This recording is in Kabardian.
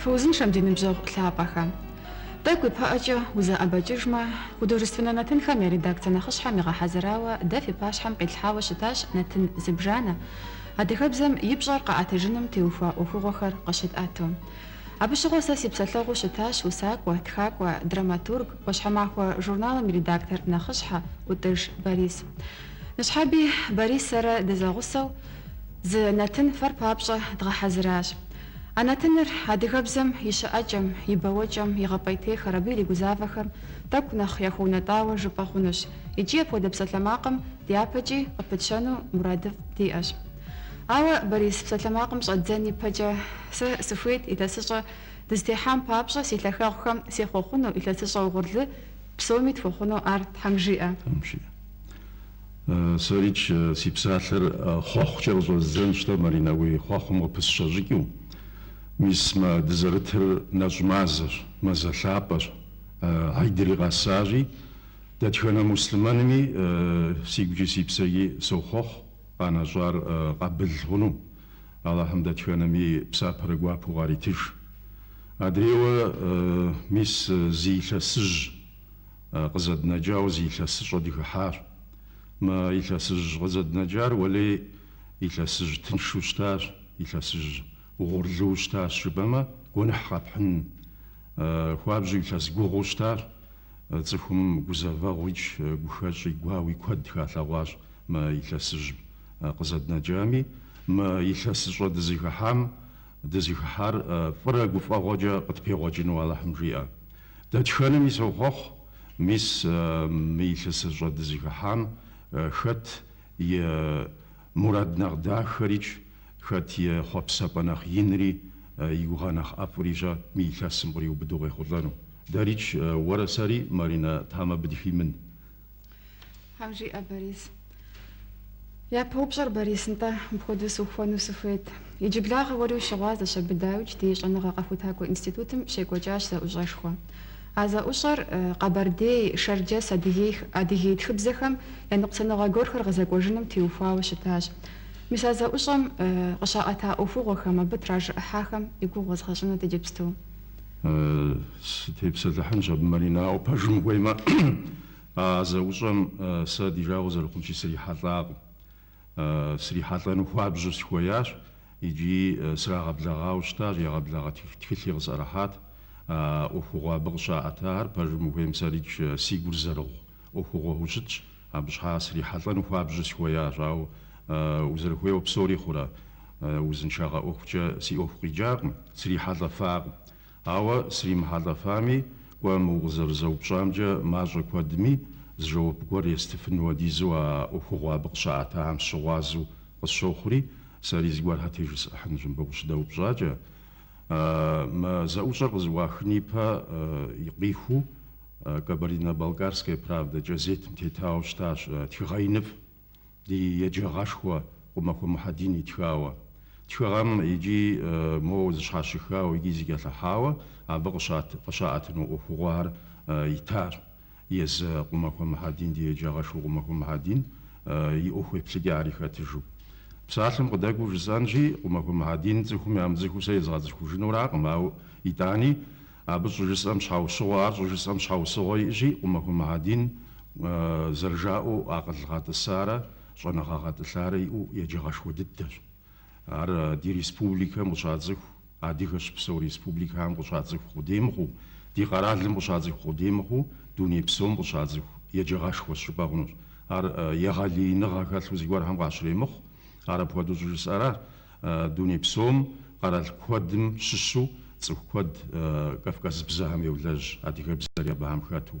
Фыузыншэм ди ныбжьэгъу лъапӏэхэ. Тӏэкӏу ипэӏэкӏэ узэӏэбэкӏыжмэ, художественнэ нэтынхэм я редакцэ нэхъыщхьэм игъэхьэзырауэ дэ фи пащхьэм къитлъхьауэ щытащ нэтын зыбжанэ, адыгэбзэм и пщӏэр къэӏэтыжыным теухуа ӏуэхугъуэхэр къыщытӏэту. Абы щыгъуэ сэ си псэлъэгъуу щытащ усакӏуэ, тхакӏуэ, драматург, ӏуащхьэмахуэ журналым и редактор нэхъыщхьэ Ӏутӏыж Борис. Ныщхьэби Борис сэрэ дызэгъусэу зы нэтын фэр папщӏэ дгъэхьэзыращ. А нэтыныр адыгэбзэм и щыӏэкӏэм, и бэуэкӏэм, игъэпӏейтейхэр, абы иригузавэхэм тӏэкӏу нэхъ яхуэунэтӏауэ жыпӏэ хъунущ икӏи апхуэдэ псалъэмакъым дяпэкӏи къыпытщэну мурадыфӏ диӏэщ. Ауэ Борис псалъэмакъым щӏэддзэн ипэкӏэ сэ сыхуейт илъэсыщӏэ дызытехьам папщӏэ си лъахэгъухэм сехъуэхъуну, илъэсыщӏэ угъурлы псоми тхуэхъуну ар Тхьэм жиӏэ. Сэрикӏ, си псалъэр хъуэхъукӏэ къыщӏэздзэнщ-тӏэ, Маринэ, уи хъуэхъум къыпысщэ щӏыкӏэу. Мис мы дызэрытыр нэщӏ мазэщ, мазэ лъапӏэщ. Хьидри къэсащи, дэтхэнэ муслъымэнми си гукӏи си псэкӏи сохъуэхъу къанэщӏар къабыл хъуну. Алыхьым дэтхэнэми псапэрэ гуапэу къаритыж. Адрейуэ, мис, зы илъэсыжь. къызэднэкӏауэ зы илъэсыщӏэ дыхыхьащ. Мы илъэсыжь къызэднэкӏар уэлей илъэсыжь тыншу щытащ, илъэсыжь угъурлыу щытащ жыпӏэмэ, гуэныхь къэпхьын хуабжьу илъэс гугъуу щытащ. Цӏыхум гузэвэгъуикӏ, гухэщӏи гуауи куэд халъэгъуащ мы илъэсыжь къызэднэкӏами. Мы илъэсыщӏэ дызыхыхьам Дызыхыхьар фӏырэ гуфӏэгъуэкӏэ къытпегъуэкӏыну Алыхьым жиӏэ. Дэтхэнэми сохъуэхъу, мис мы илъэсыщӏэ дызыхыхьам хэт и мурад нэхъ дахэрикӏ, хэт и хъуэпсэпӏэ нэхъ инри, и гугъэ нэхъ ӏэфӏрищӏэ мы илъэсым къриубыдэу къехъулӏэну. Дэрикӏ, уэрэ сэри, Маринэ, Тхьэм абы дыхимын. Тхьэм жиӏэ Борис. Япэ упщӏэр Борис, нтӏэ, мыпхуэдэу сыухуэну сыхуейт. Иджыблагъэ уэри ущыгъуазэщ абы дауикӏ ди щӏэныгъэ къэхутакӏуэ институтым щекӏуэкӏащ зэӏущӏэшхуэ. А зэӏущӏэр къэбэрдей, шэрджэс, адыгей, адыгей тхыбзэхэм я ныкъусаныгъэ гуэрхэр гъэзэкӏуэжыным теухуауэ щытащ. Мис а зэӏущӏэм къыщаӏэта ӏуэхугъуэхэм, абы тражыӏыхьахэм и гугъу уэзгъэщӏынут иджыпсту. Сытепсэлъыхьынщ абы Маринэ, ауэ пэжым ухуеймэ. А зэӏущӏэм сэ ди жагъуэ зэрыхъунщи срихьэлӏакъым. Срихьэлӏэну хуабжьу сыхуеящ икӏи срагъэблэгъауэ щытащ, егъэблэгъэ тхылъи къысӏэрыхьат. А ӏуэхугъуэ абы къыщаӏэтахэр пэжым ухуейм сэрикӏ си гур зэрыгъу ӏуэхугъуэу щытщ. Абы щхьа срихьэлӏэну хуабжьу сыхуеящ, ауэ узэрыхуейуэ псори хъурэ? Узыншагъэ ӏуэхукӏэ си ӏуэху къикӏакъым, срихьэлӏэфакъым. Ауэ сримыхьэлӏэфами, кӏуэ, мы укъызэрызэупщӏамкӏэ мащӏэ куэдми зы жэуап гуэр естыфын хуэдизу а ӏуэхугъуэ абы къыщаӏэтахэм сыщыгъуазэу къысщохъури, сэри зыгуэрхьэ тежысӏыхьынущ мыбы укъыщыдэупщӏакӏэ. Мы зэӏущӏэр къызэӏуахын ипэ къихуэу. Кабардино-Балкарская правда кӏэзетым тетауэ щытащ тхыгъэ иныфӏ ди еджагъэшхуэ Къумахуэ Мухьэдин итхауэ. Тхыгъэм икӏи моуэ зэщхьэщыхауэ икӏи зэкӏэлъыхьауэ абы къыщаӏэтыну ӏуэхугъуэхэр итащ. Езы Къумахуэ Мухьэдин ди еджагъэшхуэ Къумахуэ Мухьэдин и ӏуэху еплъыкӏэри хэтыжу. Псалъэм къыдэкӏуэу жысӏэнщи, Къумахуэ Мухьэдин цӏыхум ямыцӏыхуу сэ езыгъэцӏыхужынуракъым, ауэ итӏани Абы щӏыжысӏэм щхьэусыгъуэ, ар щӏыжысӏэм щхьэусыгъуэ иӏэщи, Къумахуэ Мухьэдин зэрыжаӏэу акъыл гъэтӏысарэ щӏэныгъэ гъэтӏылъарэ иӏэу еджагъэшхуэ дыдэщ. Ар ди республикэм къыщацӏыху адыгэ щыпсэу республикэхэм къыщацӏыху къудей мыхъуу, ди къэралым къыщацӏыху къудей мыхъуу, дуней псом къыщацӏыху еджагъэшхуэщ жыпӏэ хъунущ. Ар егъэлеиныгъэ хэлъу зыгуэрхэм къащремыхъу, ар апхуэдэу щӏыжысӏэращ. Дуней псом, къэрал куэдым щыщу цӏыху куэд кавказыбзэхэм йолэжь адыгэбзэри абыхэм хэту.